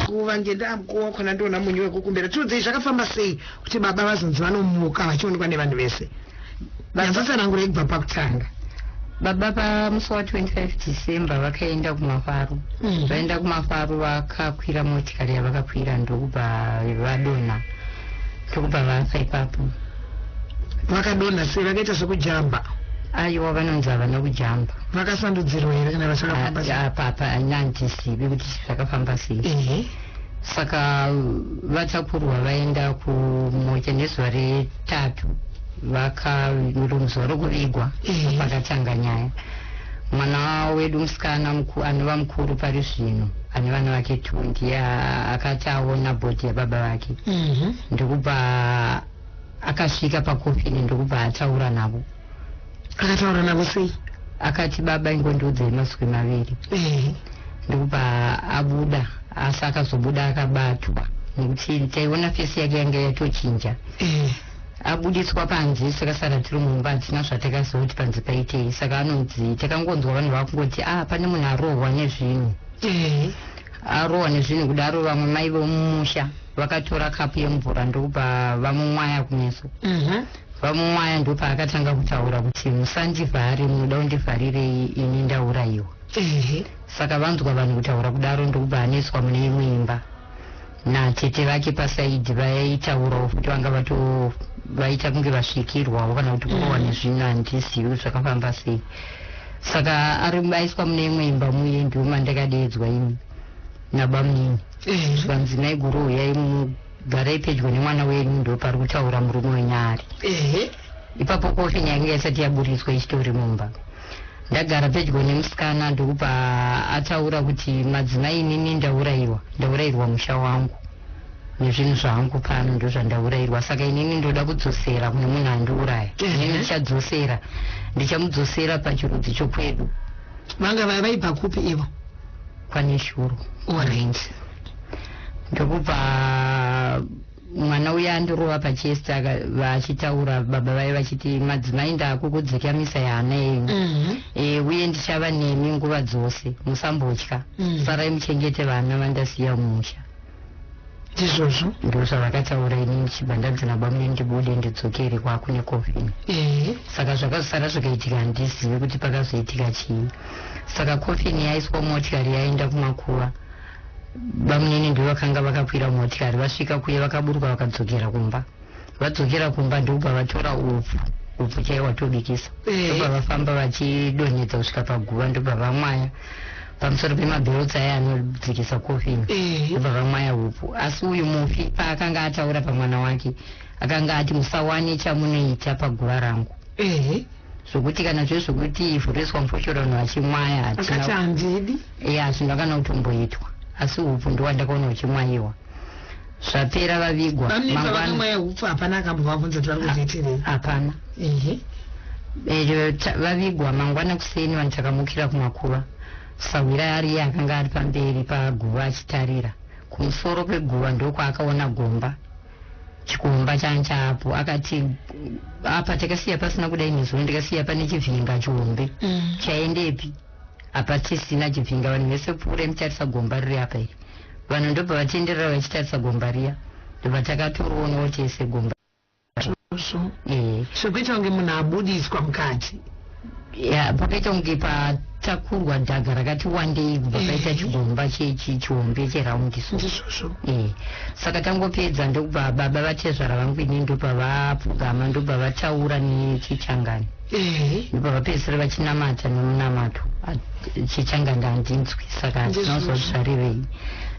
kuva ngendaa mukuwo wakona ndiona munyu wekukumbira tiudzei zvakafamba sei kuti baba vazonzi vanomuka vachionekwa nevanhu vese nyatsosanangura yekubva pakutanga baba pamusi wa 25 december vakaenda kumafaro mm. vaenda kumafaro vakakwira motikari yavakakwira ndokubva vadonha ndokubva vafa ipapo vakadonha sei vakaita sekujamba aiwa vanonzi havana kujamba vakasandudzirwa here kana vachakafamba apapa haina handisivi kuti zvakafamba sei ehe saka vatakurwa vaenda kumocha nezuva retatu vakaromuzuva rokuvigwa pakatanga nyaya mwana wedu musikana anova mukuru pari zvino ane vana vake two ndiye akati aona bhodhi yababa vake mhm. ndokubva Akasvika pakofini ndokubva ataura navo. Akataura navo sei? Akati baba ingondiudzei mazwi maviri. Ehe. Ndokubva abuda asi akazobuda akabatwa nekuti taiona fesi yake yanga yatochinja. Ehe. Abudiswa panze saka sara tiri mumba hatina zvatakaziva kuti panze paitei saka anonzi takangonzwa vanhu vakungoti ah pane munhu arohwa nezvinhu. Ehe. Arohwa nezvinhu kudaro vamwe mai vomumusha vakatora kapu yemvura ndokubva vamumwaya kumeso mhm. vamumwaya ndopaakatanga kutaura kuti musandivhare munoda kundivharirei ini ndaurayiwa saka vanzwa vanhu kutaura kudaro ndokubva aneswa mune imwe imba natete vake pasaidi vaitaurawo futi vanga vato vaita kunge vasvikirwawo kana kuti kurowa mhm. nezvinhu handizivi zvakafamba sei Saka ari aiswa mune imwe imba muye ndiwo mandakadeedzwa ini nabamunini zvanzi naiguru huyai mugarai pedyo nemwana wenyu ndopari kutaura murume wenyari ipapo kofi nyaya inge isati yaburitswa ichitori mumba ndagara pedyo nemusikana ndokubva ataura kuti madzimai inini ndaurayiwa ndaurayirwa musha wangu nezvinhu zvangu pano ndozvandaurairwa saka inini ndoda kudzosera kune munhu andiuraya inini mhm. ndichadzosera ndichamudzosera pachirudzi chokwedu vanga vaibva kupi ivo kwane shuru orange ndokubva mwana uya andirova pachest vachitaura baba vaye vachiti madzimai ndakukudzikamisa yehana yenyu mhm. e, uye ndichava nemi nguva dzose musambotya mhm. sarai muchengete vana vandasiya mumusha ndizvozvo ndizvo zvavakataura ini ndichibva ndanzi nabamune ndibude ndidzokere kwakune coffin ehe saka zvakazosara zvakaitika handizivi kuti pakazoitika chii saka coffin yaiswa motikari yaenda kumakuva bamunini ndivo vakanga vakakwira motikari vasvika kuye vakaburuka vakadzokera kumba vadzokera kumba ndokubva vatora upfu upfu chaiye watobikisa ndokubva vafamba vachidonhedza kusvika paguva ndokubva vamwaya pamusoro pemabhirotsi aya anodzikisa kofini vobva eh. vamwaya upu asi uyu mufi paakanga ataura pamwana wake akanga ati musawane chamunoita paguva rangu eh. zvokuti kana zve zvokuti ivhuriswa mufoshoro vanhu vachimwaya hatinaandidi ya hazvina kana kutomboitwa asi upu ndowandakaona uchimwayiwa zvapera vavigwa Bamnini vava nemweya hupfu hapana akambovavhunza kuti vari kuzoitirei hapana ehe Eh, ta- vavigwa mangwana kuseni vanhu takamukira kumakuva sahwira ari iye akanga ari pamberi paguva achitarira kumusoro kweguva ndokwaakaona gomba chikomba change chaapo akati apa takasiya pasina kudai nezuro ndikasiya pane chivhinga chihombe chaendepi apa tisina chivhinga vanhu vese pfuura mutarisa gomba riri apa iri Vanhu ndobva vatenderera vachitarisa gomba riya ndobva takatorionawo tese gomba Izvozvo Eh, zvekuita kunge munhu abudiswa mukati. ya pakaita kunge patakurwa dhaga rakati wandei kubva Eh. paita chigomba che- chi- chihombe cheraundi so Ndizvozvo. Eh, saka tangopedza ndokubva baba vatezvara vangu ini ndobva vapfugama ndobva vataura nechichangani ndobva vapedzisira vachinamata nemunamato chichanganda handinzwi saka hatinonzwa zvarevei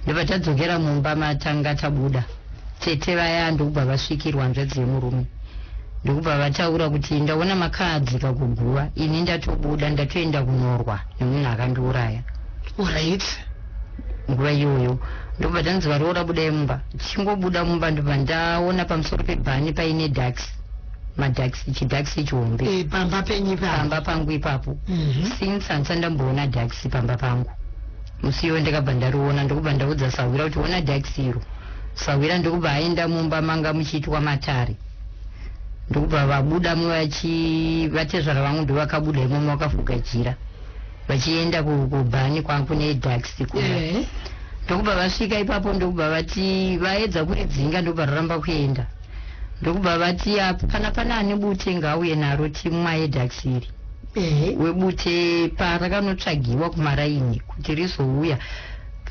ndobva tadzokera mumba matanga tabuda tete vaya ndokubva vasvikirwa hanzvadzi yemurume ndokubva vataura kuti ndaona makaadzika kuguva ini ndatobuda ndatoenda kunorwa nemunhu akandiuraya orit nguva iyoyo ndokubva tanzi varoora budai mumba tichingobuda mumba ndobva ndaona pamusoro pebhani paine ducks madaxi chidaxi chihombe eh, pamba penyu pamba pangu ipapo mhm. since handisati ndamboona daxi pamba pangu musi iwo ndikabva ndariona ndokubva ndaudza sahwira kuti ona daxi iro sahwira ndokubva aenda mumba manga muchiitwa matare ndokubva vabuda muvachi vatezvara vangu ndovakabuda imomo vakafuga jira vachienda kubhani kwangu nedaxi kuya eh. ndokubva vasvika ipapo ndokubva vati vaedza kuridzinga ndokubva raramba kuenda ndokubva vati apa kana pane ane bute ngaauye naro timu maedax iri Ehe. webute parakanotsvagiwa kumaraini kuti rizouya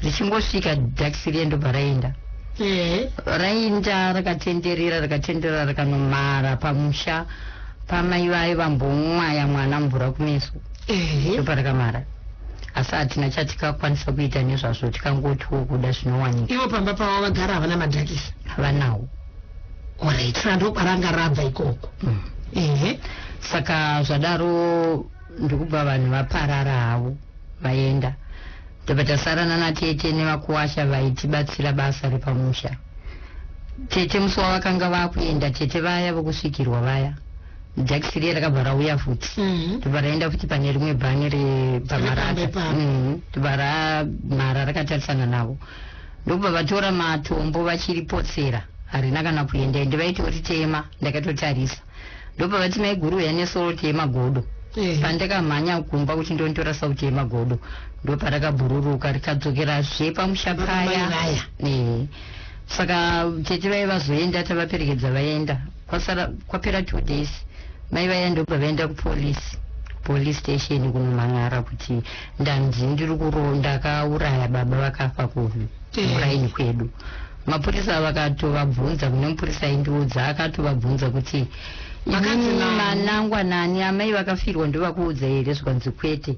richingosvika dax riye ndobva raenda Ehe. rainda rakatenderera rakatenderera rakanomara pamusha pamai vaye vambomwaya mwana mvura kumeso Ehe. ndoparakamara asi hatina chatikakwanisa kuita nezvazvo tikangotiwo kuda zvinowanika ivo pamba pavo vagara havana madhakisa havanawo orit saka ndokwaranga rabva ikoko mm. ehe saka zvadaro ndikubva vanhu vaparara havo vaenda ndobva tasarana natete nevakuwasha vaitibatsira basa repamusha tete musi wavakanga vakuenda tete vaya vokusvikirwa vaya jakisi riye rakabva rauya futi mm-hmm. tobva raenda futi pane rimwe bhani repamaraaka mm-hmm. tobva ramhara rakatarisana navo ndokubva vatora matombo vachiripotsera harina kana kuenda ende vaitoritema ndakatotarisa ndobva vati maiguru uya nesoroti yemagodo pandakamhanya kumba kuti ndonditora sauti yemagodo ndoparakabhururuka rikadzokera zve pamusha paya saka tete vaivazoenda tavaperekedza vaenda kwasara kwapera two days mai vaya ndobva vaenda kupolice police station kunomhan'ara kuti ndanzi ndiri kuro ndakauraya baba vakafa kumuraini eh. kwedu mapurisa vakatovabvunza kune mupurisa aindiudza akatovabvunza kuti manangwanani amai vakafirwa ndovakuudza here zvikanzi kwete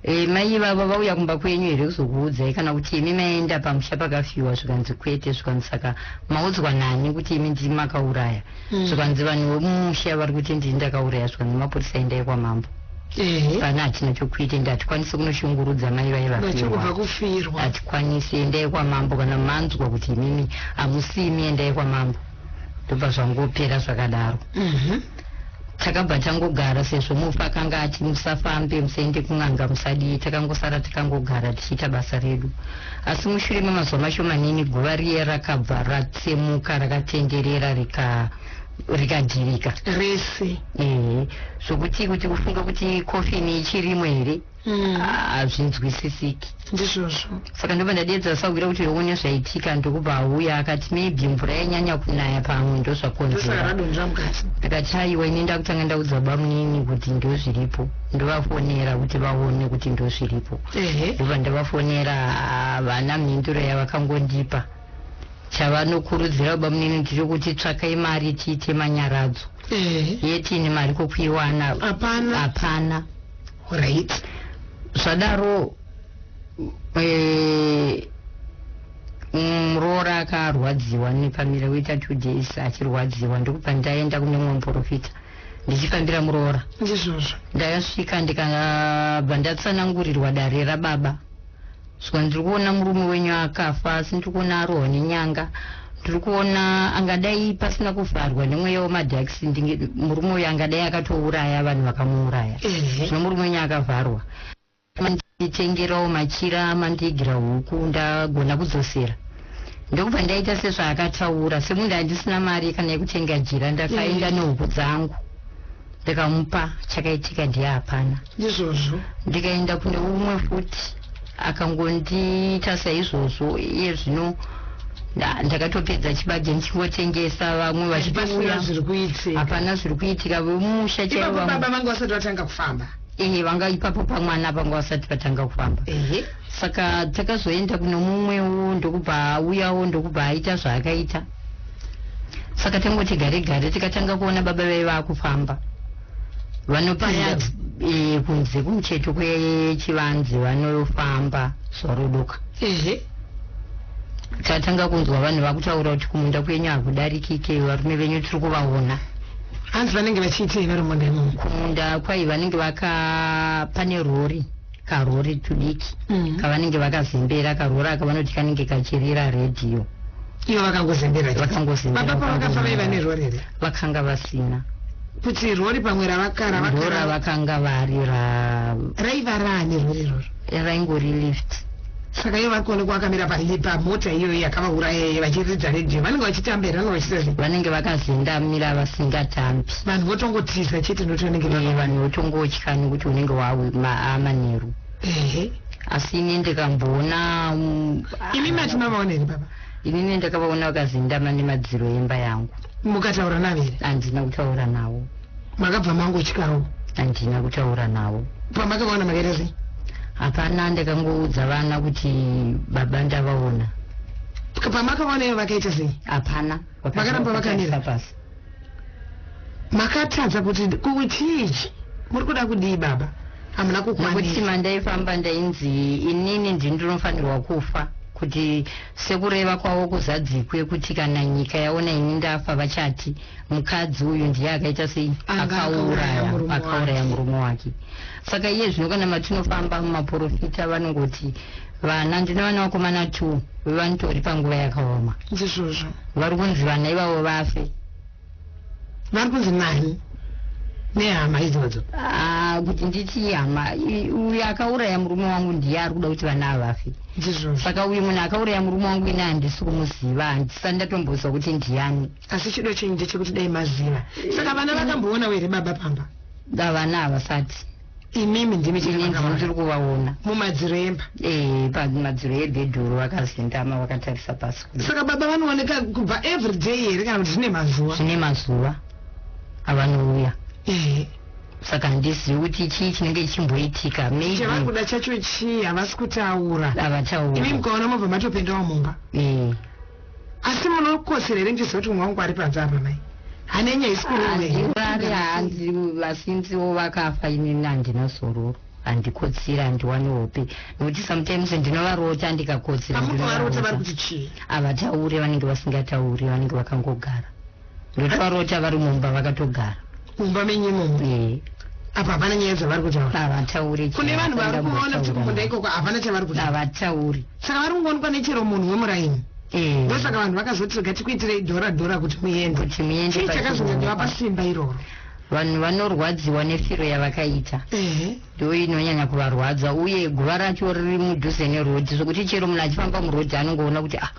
E, mai ivava vauya kumba kwenyu here kuzokuudzai kana kuti imi maenda pamusha pakafyiwa zvikanzi kwete zvikanzi saka maudzwa nani kuti imi ndii makauraya mm. zvikanzi vanhu vemumusha vari kuti ndii ndakauraya zvikanzi mapurisa endai kwamambo pana hatina chokuita ende hatikwanisi kunoshungurudza mai vaye vafirwa hatikwanisi endai kwamambo kana manzwa kuti imimi hamusimi endai kwamambo ndobva zvangopera zvakadaro mm -hmm. takabva tangogara sezvo mufi akanga ati musafambe musaende kun'anga musadii takangosara takangogara tichiita basa redu asi mushure memazuva mashomanini guva riye rakabva ratsemuka rakatenderera rika rikadhirika rese ehe zvokuti kuti ufunge kuti kofini ichirimo here mm. hazvinzwisisiki mm. ndizvozvo saka ndobva ndadiedza sakugira kuti yoone zvaitika ndokuba auya akati maybe mvura yanyanya kunaya pamwe ndozvakonzeraakati aiwa ini ndakutanga ndaudza bamunini kuti ndozviripo ndovafonera kuti vaone kuti ndozviripo ndobva ndavafonera ah, vana mhinduro yavakangondipa chavanokurudzira bamunini tiri kuti tsvakai mari tiite manyaradzo yetini mari kokuiwana hapana right zvadaro eh, muroora akarwadziwa nepamira woita two days achirwadziwa ndokubva ndaenda kune mumwe muprofita ndichifambira muroora ndizvozvo ndakasvika ndikabva ndatsanangurirwa dare rababa Zvika ndiri kuona murume wenyu akafa asi ndiri kuona arohwa nenyanga ndiri kuona angadai pasina kuvharwa nemweya wemadax murume uyu angadai akatouraya vanhu vakamuuraya zvino murume wenyu akavharwa manditengerawo machira mandiigira huku ndagona kudzosera ndokubva ndaita sezvaakataura semunhu andisina mari kana yekutenga jira ndakaenda nehuku dzangu ndikamupa chakaitika ndiye hapana izvozvo ndikaenda kune umwe futi akangondiita saizvozvo iye zvino ndakatopedza chibage ndichingotengesa vamwe vachipasura zviri kuitika hapana zviri kuitika vemusha chaivo baba vanga vasati vatanga kufamba ehe vanga ipapo pamwana panga vasati vatanga kufamba ehe saka takazoenda kune mumwewo ndokubva auyawo ndokubva aita zvaakaita saka tangoti gare gare tikatanga kuona baba vaiva akufamba vanopinda e, kunze kumucheto kwechivanze vanofamba zvarodoka ehe tatanga kunzwa vanhu vakutaura kuti kumunda kwenyu hakudarikike varume venyu tiri kuvaona hanzi vanenge vachiitei vari munda imomo kumunda kwai vanenge vaka pane rori karori tudiki mm. kavanenge vakazembera karori aka vanoti kanenge kachirira redhiyo ivo vakangozembera vakangozembera baba pavakafa vaiva nerori here vakanga vasina kuti rori pamwe ravakara vakara vakanga vari ra raiva raani rori rori raingori lift Saka iye vakuonekwa akamira pali pamota iyoyi yakavauraya iye vachiridza radio vanenge vachitamba here vanovachiita zve vanenge vakazendamira vasingatambi vanhu votongotiza chete noti vanenge vava Eh, vanhu votongotya nekuti unenge waamanheru ehe asi ini ndikamboona mm, imi mati mavaona here baba inini ndakavaona vakazendama nemadziro emba yangu mukataura navo here handina kutaura navo makabva mangotyawo handina kutaura navo pamakavaona makaita sei hapana ndakangoudza vana kuti baba ndavaona pamakavaona ivo vakaita sei hapana vakaramba vakamira pasi makatadza kuti kuchii muri kuda kudii baba hamuna kukwanikuti mandaifamba ndainzi inini ndi ndinofanirwa kufa kuti sekureva kwavo kuzadzikwe kuti kana nyika yaona ini ndafa vachati mukadzi uyu ndiye akaita sei akauraya murume wake saka iye zvino kana matinofamba mumaporofita vanongoti vana ndine vana vakomana two vevanitori panguva yakaoma ndizvozvo vari kunzi vana ivavo vafe vari kunzi nani nehama idzodzo ah, kuti nditi hama uyu akauraya murume wangu ndiye ari kuda kuti vana avafe ndizvozvo saka uyu munhu akauraya murume wangu ini handisi kumuziva handisa ndatombozwa kuti ndiyani asi chido chenyu ndechekuti dai maziva saka vana vakamboonawo here baba pamba vana havasati imimi ndimi tiri kuvaona mumadziro emba ee eh, pamadziro ebhedhuru vakazendama vakatarisa pasi saka baba vanooneka kubva every day here kana kuti zvine mazuva zvine mazuva avanouya ee eh. saka handizivi kuti chii chinenge chimboitika meichavakuda chacho chii havasi kutaura havataura imimi mukaona mobva matopendawo mumba ee eh. asi munokosera here ndiziva kuti mwe wangu ari panze apa mai hanenya isikurari hanzi vasinziwo vakafa inini handina zororo handikotsira handiwane hope nokuti sometimes ndinovarota ndikakotsira havataure vanenge vasingatauri vanenge vakangogara ndotovarota vari mumba vakatogara mumba menyu imomo eh. apa hapana nyaya dzavari kutaura havatauri kune vanhu vari kuona kuti kumunda ikoko hapana chavari kutaura havatauri saka vari kungoonekwa nechero munhu wemuraini eh. ndosaka vanhu vakazoti rega tikuitirei dhora dhora kuti muende kuti muende chakazonyanyova pasimba iroro vanhu vanorwadziwa nefiro yavakaita ndoinonyanya kuvarwadza uye guva racho riri mudhuze nerodhi zvekuti chero munhu achifamba murodhi anongoona kuti ah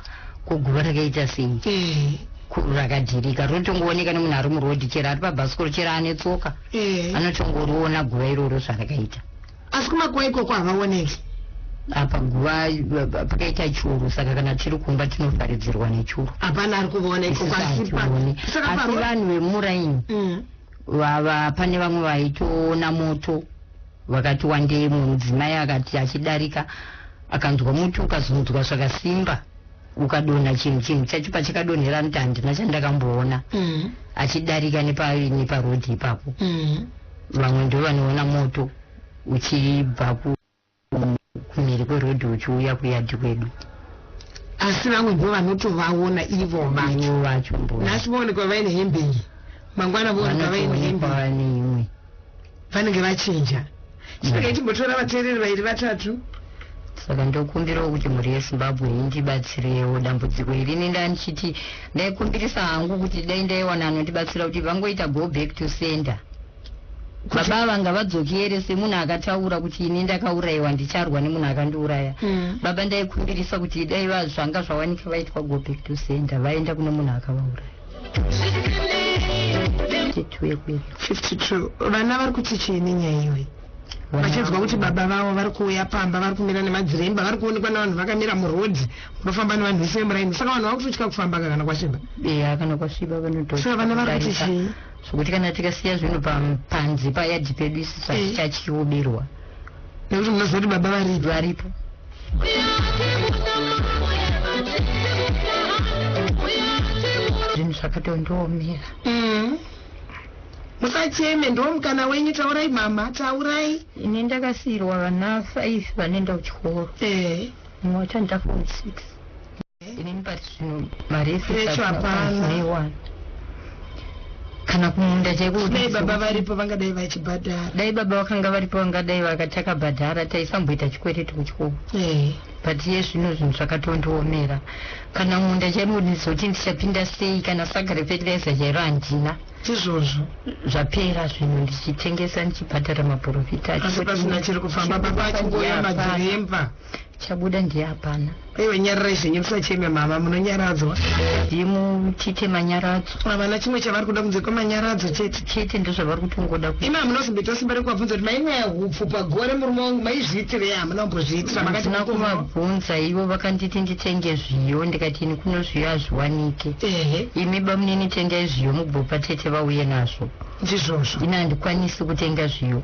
ko guva rakaita sei eh. rakadhirika rinotongooneka nemunhu ari murodhi chero ari pabhasikoro chero ane tsoka eh. anotongoriona guva iroro zvarakaita asi kumakuva ikoko havaoneki apa guva pakaita churu saka kana tiri kumba tinofaridzirwa nechuru hapana ari kuvaona ikoko asi vanhu vemuraini mm. vava pane vamwe vaitoona moto vakati wandei mumwe mudzimai akati achidarika akanzwa muti ukazunzwa zvakasimba ukadonha chinhu chinhu chacho pachakadonhera noti handina chandakamboona mm. achidarika neparodhi ipapo mm. vamwe ndo vanoona moto uchibva ku kumhiri kweroad uchiuya kuyard kwedu. Asi vamwe ndivo vanotovaona ivo vacho nhasi voonekwa vaine hembe iyi mangwana voonekwa vaine hembe vanenge vachinja chinenge chimbotora vateereri vairi vatatu saka ndokumbirawo kuti mhuri yezimbabwe indibatsirewo dambudziko iri ini ndandichiti ndaikumbirisa hangu kuti dai ndaiwana anondibatsira kuti vangoita go back to center baba ava ngavadzokere semunhu akataura kuti ini ndakaurayiwa ndicharwa nemunhu akandiuraya mm. baba ndaikumbirisa kuti dai vazvanga zvawanika vaitwa go back to center vaenda kune munhu akavauraya 52 vana vari kuti chii nenyaya iyoyi vachinzwa kuti baba vavo vari kuuya pamba vari kumira nemadziremba vari kuonekwa nevanhu vakamira muroad unofamba nevanhu vese vemuraini saka vanhu vakutotya kufamba kakana kwasviba eya kana kwasviba vanotosaka vana vari kuti chii zvekuti kana tikasiya zvinhu panze payadhi pedu isi zvatichadyiwo eh. berwa nekuti munoziva kuti baba varipo varipo zvinhu zvakatondiomera mm. musacheme ndiwo mukana wenyu taurai mama taurai ini ndakasiyirwa vana five vanoenda kuchikoro eh. mumwe wacho ndakafo six inini pati zvino mari yeseaiwa kana kumunda chaikudai baba varipo vangadai vachibhadhara dai baba vakanga varipo vangadai vakatakabhadhara taisamboita chikwereti kuchikoo eh. but ye zvino zvinhu zvakatondiomera kana munda chaimo ndizoti ndichapinda sei kana saka refetiraiza chairo handina izvozvo zvapera zvinhu ndichitengesa ndichibhadhara maporofita asi pasina chiri kufamba baba achingouya madhiremba chabuda ndiye hapana aiwa nyararai zvenyu musacheme mama munonyaradzwa ndiye muchite manyaradzo havana chimwe chavari kuda kunze kwemanyaradzo chete chete ndozvavari kutongoda ku ima munozomboita simba rekuvabvunza kuti mainwaya hupfu pagore murume wangu maizviitirei hamuna kumbozviitira handina kuvabvunza ivo vakanditi nditenge zviyo ndikati ini kuno zviyo hazviwanike ehe imi bamunini tengai zviyo mubvopa tete vauye nazvo ndizvozvo ini handikwanisi kutenga zviyo